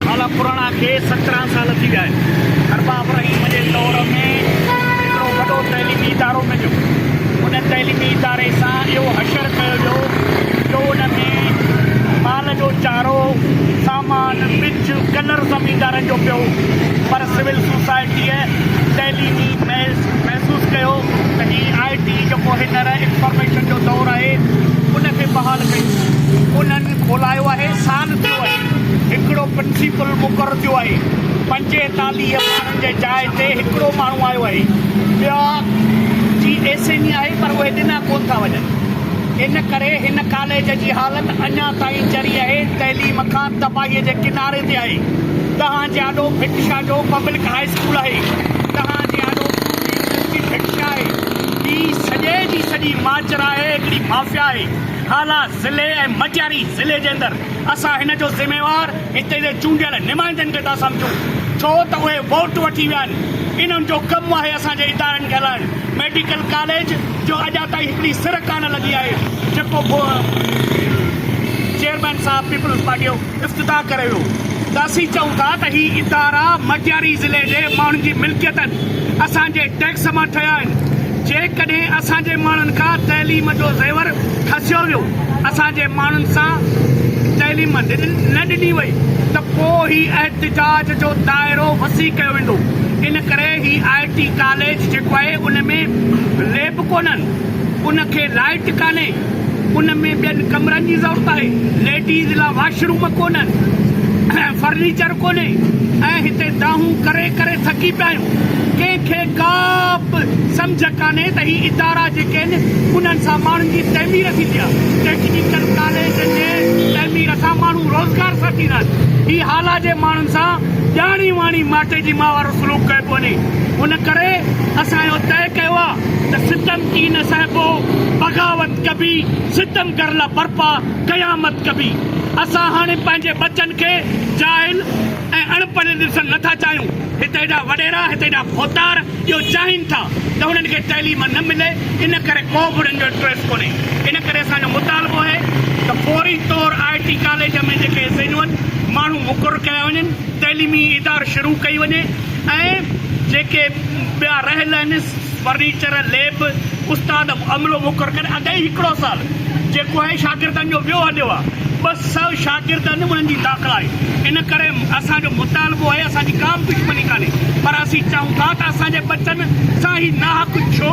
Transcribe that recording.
سال پراڻا کي سترهن سال ٿي ويا آهن. ارباب رحيم جي دور ۾ هڪڙو وڏو تعليمي ادارو مليو. ان تعليمي اداري سان اهو حشر ڪيو ويو جو ان ۾ مال جو چارو، سامان، ٻج، ڪلر زميندارن جو پيو. پر سول سوسائٽيء تعليمي محض محسوس ڪيو ته هي آء ٽي جيڪو هينئر انفارميشن جو دور آهي، ان کي بحال ڪيون. انهن. پل کولايو آهي، سال ٿيو آهي هڪڙو پنسي پل مقرر ٿيو آهي، پنجيتاليهه ماڻهن جي جاء تي هڪڙو ماڻهو آيو آهي، ٻيا جي ايس اين اي آهي پر اهي ڏنا ڪونه ٿا وڃن، ان ڪري هن ڪاليج جي حالت اڃا تائين چري آهي، تعليم کان تباهي جي ڪناري تي آهي، تهان جي آڏو ڀٽ شاهه جو پبلڪ هاء اسڪول آهي، تهان جي آڏو پورهيي يونيورسٽي ڀٽ شاهه آهي، هي سڄي جي سڄي ماچرا آهي، هڪڙي مافيا آهي. هالا ضلعي ۽ مٽياري ضلعي جي اندر اسان هن جو ذميوار هتي جي چونڊيل نمائندن کي ٿا سمجهون ڇو ته اهي ووٽ وٺي ويا آهن انهن جو ڪم آهي اسان جي ادارن کي هلائڻ ميڊيڪل ڪاليج جو اڄا تائين هڪڙي سر ڪانه لڳي آهي جيڪو چيئرمين صاحب پيپلز پارٽيء افتتاح ڪري ويو ته اسين چئون ٿا ته هي ادارا مٽياري ضلعي جي ماڻهن جي ملڪيت آهن، اسان جي ٽيڪس مان ٺهيا آهن، جيڪڏهن اسان جي ماڻهن کان تعليم جو زيور کسيو ويو، اسان جي ماڻهن سان تعليم نه ڏني وئي ته پوء هي احتجاج جو دائرو وسيع ڪيو ويندو، ان ڪري هي آء ٽي ڪاليج جيڪو آهي ان ۾ ليب ڪونهن. ان کي لائٽ ڪانهي، ان ۾ ٻين ڪمرن جي ضرورت آهي، ليڊيز لا واش روم ڪونهن، فرنيچر ڪونهي ۽ هتي دانهون ڪري ڪري ٿڪي پيا آهيون. ڪنهن کي ڪا به سمجهه ڪانهي ته هي ادارا جيڪي آهن انهن سان ماڻهن جي تعمير ٿيندي آهي، ٽيڪنيڪل ڪاليجن جي تعمير سان ماڻهو روزگار سان ٿيندا آهن، هي هالا جي ماڻهن سان ڄاڻي واڻي ماٽي جي ماء وارو سلوڪ ڪيو پيو وڃي، ان ڪري اسان اهو طئي ڪيو آهي. ته ستم ڪي نه سهبو، بغاوت ڪبي، ستم گر لا برپا، قيامت ڪبي. اسان هاڻي پنهنجي ٻچن کي جاهل ۽ اڻ پڙهيل ڏسڻ نه ٿا چاهيون. هت هيڏا وڏيرا، هت هيڏا ڀوتار اهو چاهين ٿا ته هنن کي تعليم نه ملي، ان ڪري ڪو به هنن جو انٽريسٽ ڪونهي. ان ڪري اسان جو مطالبو اهي ته فوري طور آء ٽي ڪاليج ۾ جيڪي سينئون ماڻهو مقرر ڪيا وڃن. تعليمي ادار شروع ڪئي وڃي ۽ جيڪي ٻيا رهيل آهن فرنيچر، ليب، استاد عملو مقرر ڪري اڳ ئي هڪڙو سال جيڪو آهي شاگردن جو ويو هليو آهي ٻه سؤ شاگرد آهن انهن جي داخلا آهي ان ڪري اسان جو مطالبو آهي اسان جي ڪا به دشمني ڪانهي پر اسين چاهون ٿا ته اسان جي ٻچن سان هي ناحق ڇو